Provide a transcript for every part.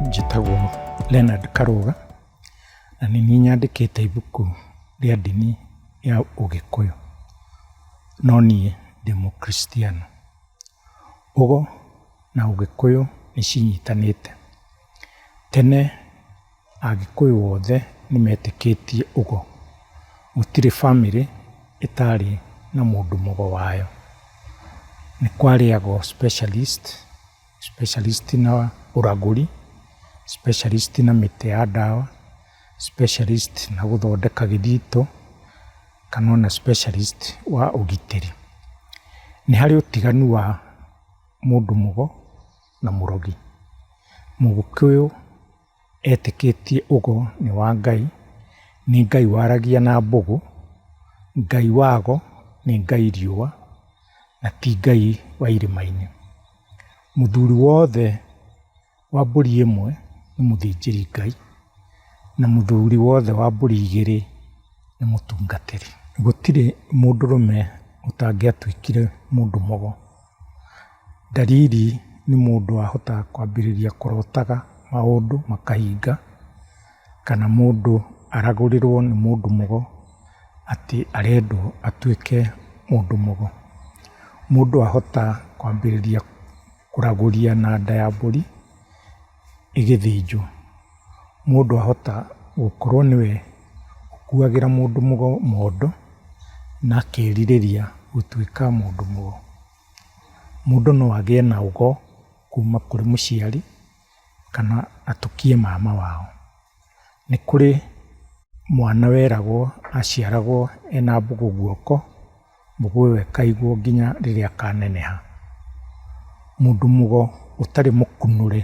Njĩtagwo Leonard Karũga, na nĩ niĩ nyandĩkĩte ibuku rĩa ndini ya ũgĩkũyũ, no niĩ ndĩ mũkristiano. Ũgo na ũgĩkũyũ nĩ cinyitanĩte. Tene Agĩkũyũ othe nĩ metĩkĩtie ũgo. Gũtirĩ famĩlĩ ĩtarĩ na mũndũ mũgo wayo. Nĩ kwarĩaga o specialist, specialist na ũragũri, specialist na mĩtĩ ya ndawa, specialist na gũthondeka gĩthito, kana ona specialist wa ũgitĩri. Nĩ harĩ ũtiganu wa mũndũ mũgo na mũrogi. Mũgĩkũyũ... etĩkĩtie ũgo nĩ wa Ngai, nĩ Ngai waragia na mbũgũ, Ngai wago nĩ Ngai riũa, na ti Ngai wa irĩma-inĩ. Mũthuri wothe wa mbũri ĩmwe nĩ mũthĩnjĩri Ngai, na mũthuri wothe wa mbũri igĩrĩ nĩ mũtungatĩri. Gũtirĩ mũndũrũme ũtangĩatuĩkire mũndũ mũgo. Ndariri nĩ mũndũ wahota kwambĩrĩria kũrotaga maũndũ makahinga, kana mũndũ aragũrĩrwo nĩ mũndũ mũgo atĩ arendwo atuĩke mũndũ mũgo. Mũndũ ahota kwambĩrĩria kũragũria na nda ya mbũri. ĩgĩthĩnjwo, mũndũ ahota gũkorwo nĩwe ũkuagĩra mũndũ mondo na akerirĩria gũtuĩka mũndũ mũgo. Mũndũ no agĩe na ũgo kuma kũrĩ mũciari kana atukie mama wao. Nĩ kũrĩ mwana weragwo aciaragwo ena mbũgũ guoko. Mũgũe we kaigwo nginya rĩrĩa kaneneha. Mũndũ mũgo ũtarĩ mũkunũre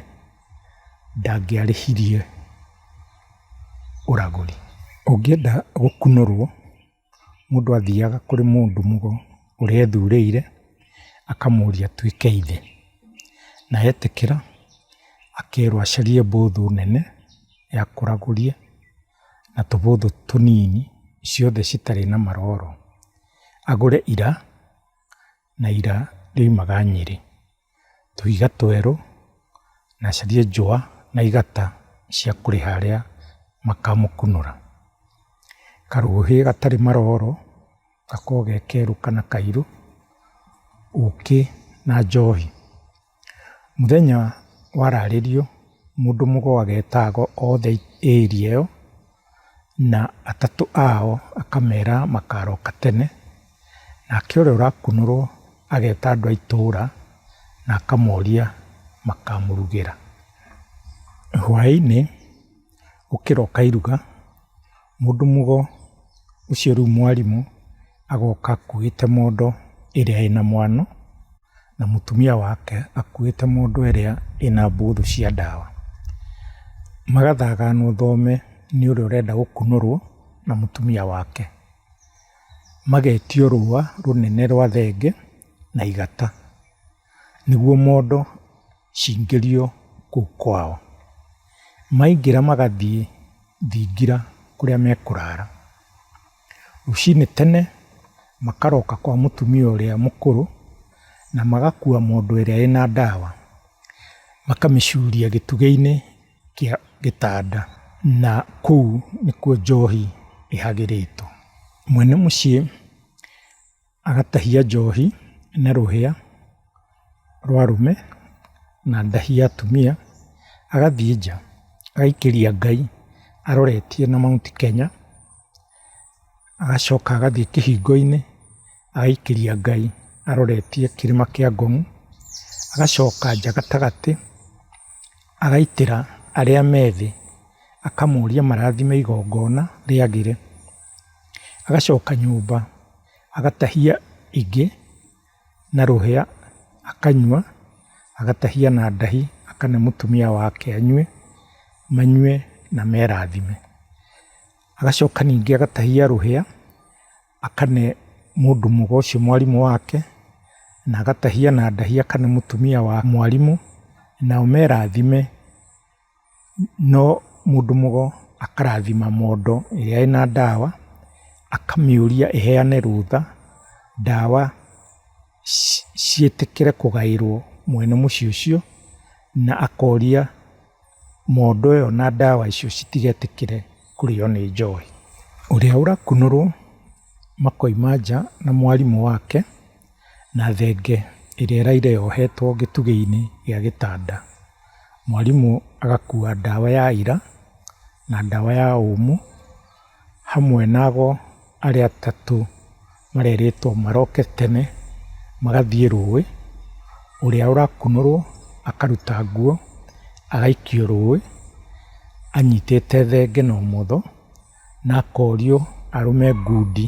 ndangĩarĩhirie ũragũri. Ũngĩenda gũkunũrwo mũndũ athiaga kũrĩ mũndũ mũgo ũrĩa ethurĩire akamũria atuĩke ithe, na etĩkĩra akerwo acarie mbũthũ nene ya kũragũria. na tũbũthũ tũnini ciothe citarĩ na maroro, agũre ira na ira rĩoimaga Nyĩrĩ, tũhiga twerũ na acarie njũa na igata cia kũrĩha arĩa makamũkunũra. Karũhĩ gatarĩ maroro gakoragwo ge kerũ kana kairũ, ũkĩ na njohi. Mũthenya wararĩrio mũndũ mũgo agetaga othe area ĩyo, na atatũ ao akamera makaroka tene, nake ũrĩa ũrakunũrwo ageta andũ a itũra na akamoria makamũrugĩra. Hwainĩ gũkĩroka iruga, mũndũ mũgo ũcio rĩu mwarimũ agoka akuĩte mondo ĩrĩa ĩna mwano. na mũtumia wake akuĩte mondo ĩrĩa ĩna mbũthũ cia ndawa. Magathagana ũthome nĩ ũrĩa ũrenda gũkunũrwo na mũtumia wake. Magetio rũa rũnene rwa thenge na igata nĩguo mondo cingĩrio kũu kwao. Maingĩra magathiĩ thingira kũrĩa mekũrara. Rũcinĩ tene makaroka kwa mũtumia ũrĩa mũkũrũ na magakua mondo ĩrĩa ĩna ndawa, makamĩcuria gĩtugĩ-inĩ kĩa gĩtanda na kũu nĩkuo njohi ĩhagĩrĩtwo. Mwene mũciĩ... agatahia njohi na rũhĩa rwa arũme na ndahi ya atumia, agathiĩ nja agaikĩria Ngai aroretie na Mount Kenya, agacoka agathiĩ kĩhingo-inĩ agaikĩria Ngai aroretie kĩrĩma kĩa Ngong, agacoka nja gatagatĩ agaitĩra arĩa me thĩ, akamoria marathime igongona rĩagĩre. agacoka nyũmba agatahia ingĩ na rũhĩa akanyua, agatahia na ndahi akane mũtumia wake anyue, manyue na merathime. Agacoka ningĩ agatahia rũhĩa akane mũndũ mũgo ũcio mwarimũ wake, na agatahia na ndahi akane mũtumia wa mwarimũ, nao merathime. No mũndũ mũgo akarathima mondo ĩrĩa ĩna ndawa, akamĩũria ĩheane rũtha, ndawa ciĩtĩkĩre kũgaĩrwo mwene mũciĩ ũcio, na akoria mondo ĩyo na ndawa icio citigetĩkĩre kũrĩo nĩ njohi. Ũrĩa ũrakunũrwo makoima nja na mwarimũ wake. Na thenge ĩrĩa ĩraire yohetwo gĩtugĩ-inĩ gĩa gĩtanda. Mwarimũ agakua ndawa ya ira na ndawa ya ũmũ, hamwe na ago arĩa atatũ marerĩtwo maroke tene magathiĩ rũĩ, ũrĩa ũrakunũrwo akaruta nguo agaikio rũĩ anyitĩte thenge na ũmotho. na akorio arũme ngundi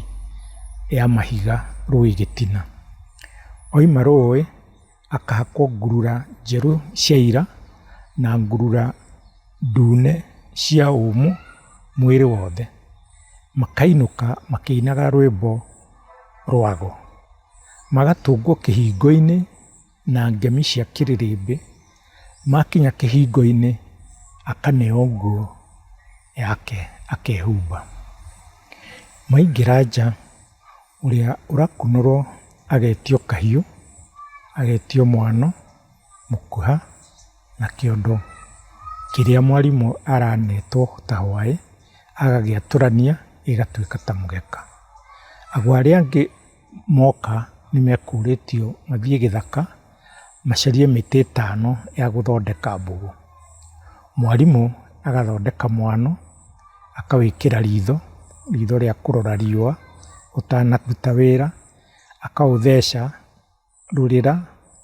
ya mahiga rũĩ gĩtina. Oima rũĩ akahakwo ngurura njerũ cia ira na ngurura ndune cia ũmũ mwĩrĩ wothe. Makainũka makĩinaga rwĩmbo rwago. Magatũngwo kĩhingo-inĩ. na ngemi cia kĩrĩrĩmbĩ, makinya kĩhingo-inĩ akaneo nguo yake akehumba. Maingĩra nja, ũrĩa ũrakunũrwo agetio kahiũ, agetio mwano, mũkuha na kĩondo kĩrĩa mwarimũ aranetwo ta hwaĩ, agagĩatũrania gĩgatuĩka ta mũgeka. Ago arĩa angĩ... moka nĩmekũrĩtio mathiĩ gĩthaka macarie mĩtĩ ĩtano ya gũthondeka mbũgũ. Mwarimũ agathondeka mwano, akawĩkĩra ritho, ritho rĩa kũrora riũa ũtanaruta wĩra, akaũtheca. rurĩra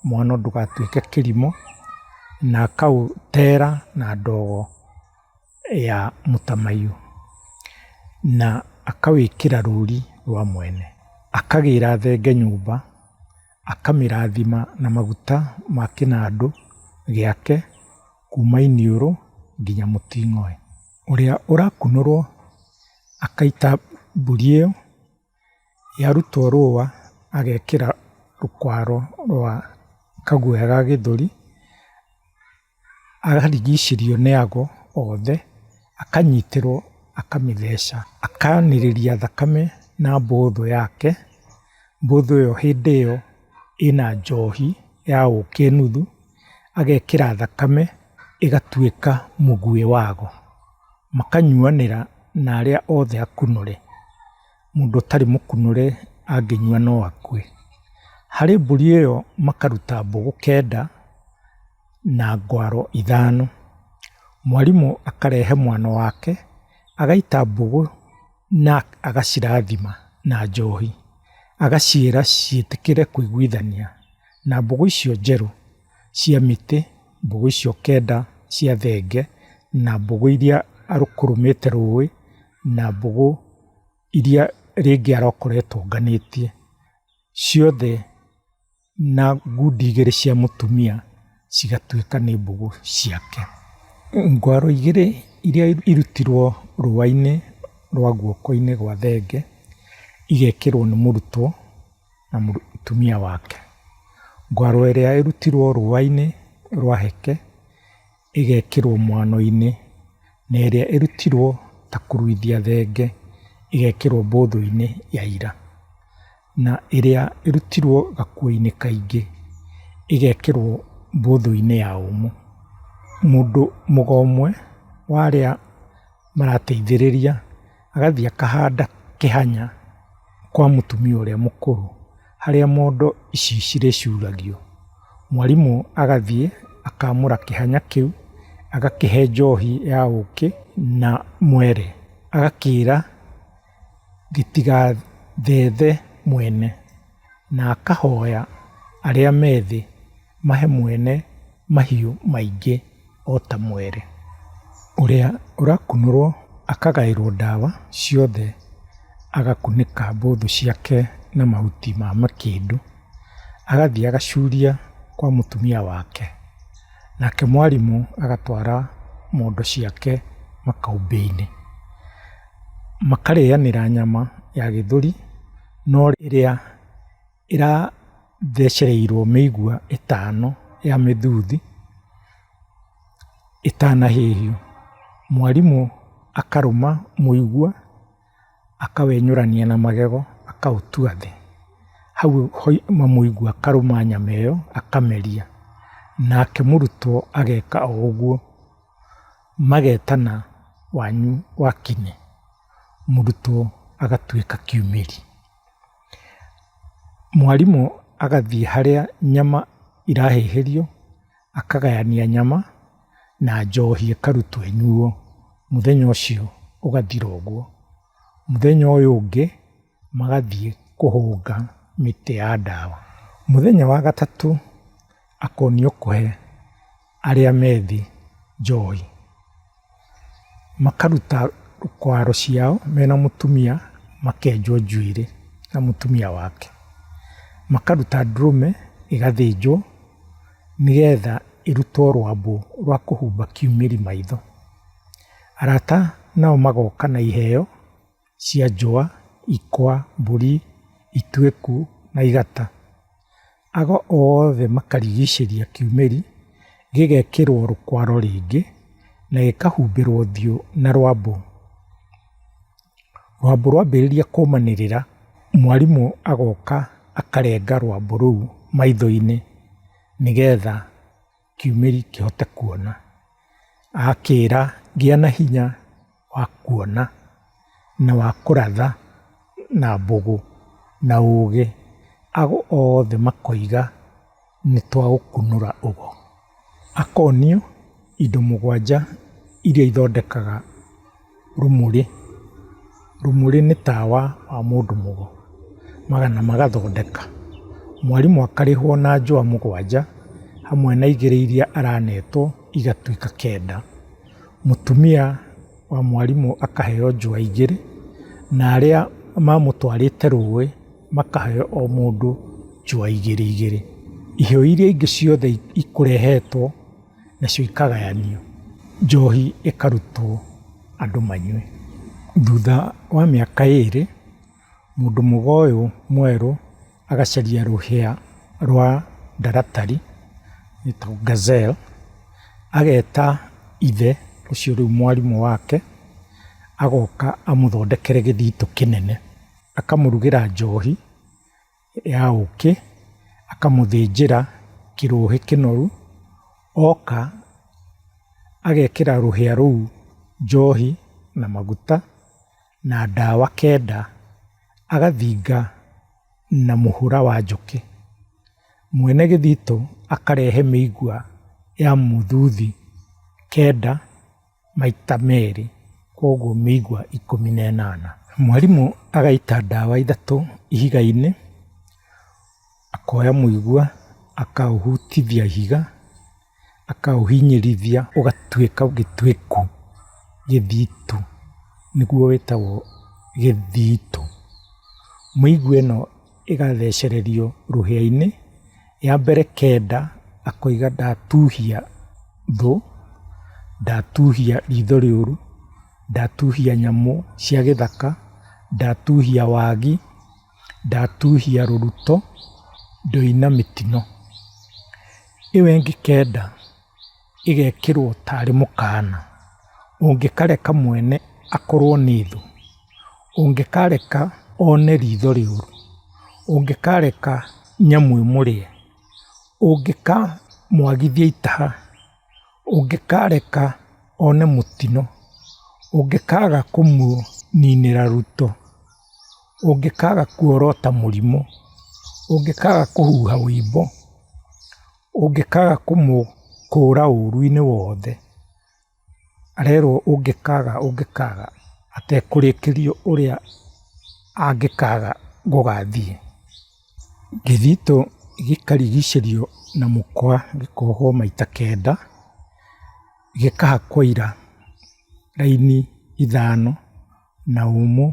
mũhano ndũgatuĩke kĩrimũ na akaũtera na ndogo ya mũtamaiyũ na akawĩkĩra rũri rwa mwene. Akagĩra thenge nyũmba, akamĩrathima na maguta ma kĩnandũ gĩake kuma iniũrũ nginya mũting'oe. Ũrĩa ũrakunũrwo akaita mbũri ĩyo yarutwo rũa agekĩra rũkwaro rwa kaguoya ga gĩthũri, akarigicĩrio nĩ ago othe, akanyitĩrwo akamĩtheca, akanĩrĩria thakame na mbũthũ yake, mbũthũ ĩyo hĩndĩ ĩyo ĩna njohi ya ũkĩ nuthu. agekĩra thakame ĩgatuĩka mũguĩ wago, makanyuanĩra na arĩa othe akunũre, mũndũ ũtarĩ mũkunũre angĩnyua no akue. Harĩ mbũri ĩyo makaruta mbũgũ kenda na ngwaro ithano. Mwarimũ akarehe mwana wake agaita mbũgũ na agacirathima na njohi, agaciĩra ciĩtĩkĩre kũiguithania. Na mbũgũ icio njerũ cia mĩtĩ, mbũgũ icio kenda cia thenge, na mbũgũ iria arũkũrũmĩte rũĩ, na mbũgũ iria rĩngĩ arokoretwo ũnganĩtie, ciothe na ngundi igĩrĩ cia mũtumia cigatuĩka nĩ mbũgũ ciake. Ngwaro igĩrĩ iria irutirwo rũa-inĩ rwa guoko-inĩ gwa thenge, igekĩrwo nĩ mũrutwo na mũtumia wake. Ngwaro ĩrĩa ĩrutirwo rũũa-inĩ rwa heke, ĩgekĩrwo mwano-inĩ, na ĩrĩa ĩrutirwo ta kũruithia thenge, ĩgekĩrwo mbũthũ-inĩ ya ira. Na ĩrĩa ĩrutirwo gakuo-inĩ kaingĩ, ĩgekĩrwo mbũthũ-inĩ ya ũmũ. Mũndũ mũga ũmwe warĩa. marateithĩrĩria agathiĩ akahanda kĩhanya kwa mũtumia ũrĩa mũkũrũ harĩa mondo ici cirĩcuragio. Mwarimũ agathiĩ akamũra kĩhanya kĩu agakĩhe njohi ya ũkĩ na mwere agakĩra gĩtigathethe mwene. Na akahooya arĩa me thĩ mahe mwene mahiũ maingĩ o ta mwere. Ũrĩa ũrakunũrwo akagaĩrwo ndawa ciothe, agakunĩka mbũthũ ciake na mahuti ma makĩndũ, agathiĩ agacuria kwa mũtumia wake, nake mwarimũ agatwara mondo ciake makaumbĩ-inĩ, makarĩanĩra nyama ya gĩthũri. no ĩrĩa ĩrathecereirwo mĩigua ĩtano ya mĩthuthi ĩtanahĩhio. Mwarimũ akarũma mũigua akawenyũrania na magego akaũtua thĩ. Hau hoima mũigua akarũma nyama ĩyo akameria. Nake mũrutwo ageka o ũguo magetana wanyu wakime. mũrutwo agatuĩka kiumĩri. Mwarimũ agathiĩ harĩa nyama irahĩhĩrio akagayania nyama na njohi ĩkarutwo ĩnyuo, mũthenya ũcio ũgathira ũguo. Mũthenya ũyũ ũngĩ magathiĩ kũhũnga mĩtĩ ya ndawa. Mũthenya wa gatatũ akonio kũhe arĩa methi njohi. Makaruta kwaro ciao mena mũtumia makenjwo njuĩrĩ na mũtumia wake. Makaruta ndũrũme ĩgathĩnjwo nĩgetha ĩrutwo rwambũ rwa kũhumba kiumĩri maitho. Arata nao magoka na iheo. cia njũa, ikwa, mbũri, ituĩku na igata. Ago othe makarigicĩria kiumĩri, gĩgekĩrwo rũkwaro rĩngĩ na gĩkahumbĩrwo ũthiũ na rwambũ. Rwambũ rwambĩrĩria kũmanĩrĩra, mwarimũ agoka akarenga rwambũ rũu maitho-inĩ nĩgetha... kiumĩri kĩhote kuona. Akĩĩra, gĩa na hinya wa kuona na wa kũratha na mbũgũ na ũũgĩ. Ago othe makoiga, nĩ twa gũkunũra ũgo. Akonio indo mũgwanja iria ithondekaga. Rumũrĩ, rumũrĩ nĩ tawa wa mũndũ mũgo, magana magathondeka. Mwarimũ akarĩhwo na njũa mũgwanja, hamwe na igĩrĩ iria aranetwo igatuĩka kenda. Mũtumia wa mwarimũ akaheo njũa igĩrĩ, na arĩa mamũtwarĩte rũĩ makaheo o mũndũ njũa igĩrĩ igĩrĩ. Iheo iria ingĩ ciothe ikũrehetwo. Nacio ikagayanio, njohi ĩkarutwo andũ manyue. Thutha wa mĩaka ĩrĩ, mũndũ mũgo ũyũ mwerũ agacaria rũhĩa rwa ndaratari, ĩtagwo gazelle, ageta ithe ũcio rĩu mwarimũ wake, agoka amũthondekere gĩthitũ kĩnene, akamũrugĩra njohi. ya ũkĩ, akamũthĩnjĩra kĩrũhĩ kĩnoru, oka agekĩra rũhĩa rũu njohi na maguta na ndawa kenda, agathinga na mũhũra wa njũkĩ. Mwene gĩthitũ akarehe mĩigua ya mũthuthi kenda. maita merĩ, koguo mĩigua ikũmi na ĩnana. Mwarimũ agaita ndawa ithatũ ihiga-inĩ, akoya mũigua akaũhutithia ihiga, akaũhinyĩrĩria ũgatuĩka gĩtuĩku, gĩthitu, nĩguo wĩtagwo gĩthitũ. Mĩigua ĩno. ĩgathecererio rũhĩa-inĩ, ya mbere kenda akoiga ndatuhia thũ, ndatuhia ritho rĩũru, ndatuhia nyamũ cia gĩthaka, ndatuhia wagi, ndatuhia rũruto, ndoina mĩtino. Ĩyo ĩngĩ kenda. ĩgekĩrwo tarĩ mũkana, ũngĩkareka mwene akorwo nĩ thũ, ũngĩkareka one ritho rĩũru, ũngĩkareka nyamũ ĩmũrĩe, ũngĩkamwagithia itaha, ũngĩkareka one mũtino, ũngĩkaga kũmũninĩra ruto, ũngĩkaga kuorota mũrimũ, ũngĩkaga kũhuha ũimbo. ũngĩkaga kũmũkũra ũru-inĩ wothe, arerwo ũngĩkaga ũngĩkaga atekũrĩkĩrio ũrĩa angĩkaga gũgathiĩ. Gĩthitũ gĩkarigicĩrio na mũkwa gĩkohwo maita kenda, gĩkahakwo ira raini ithano na ũmũ.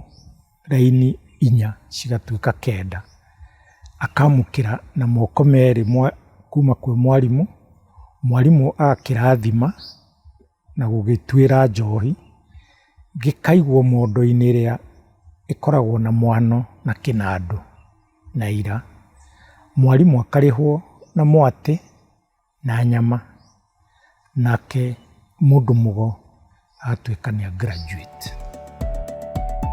raini inya cigatuĩka kenda, akamũkĩra na moko merĩ kuma kwĩ mwarimũ, mwarimũ agakĩrathima na gũgĩtuĩra njohi, gĩkaigwo mondo-inĩ ĩrĩa ĩkoragwo na mwano na kĩnandũ na ira. Mwarimũ akarĩhwo na mwatĩ na nyama, nake mũndũ mũgo agatuĩka nĩ a graduate.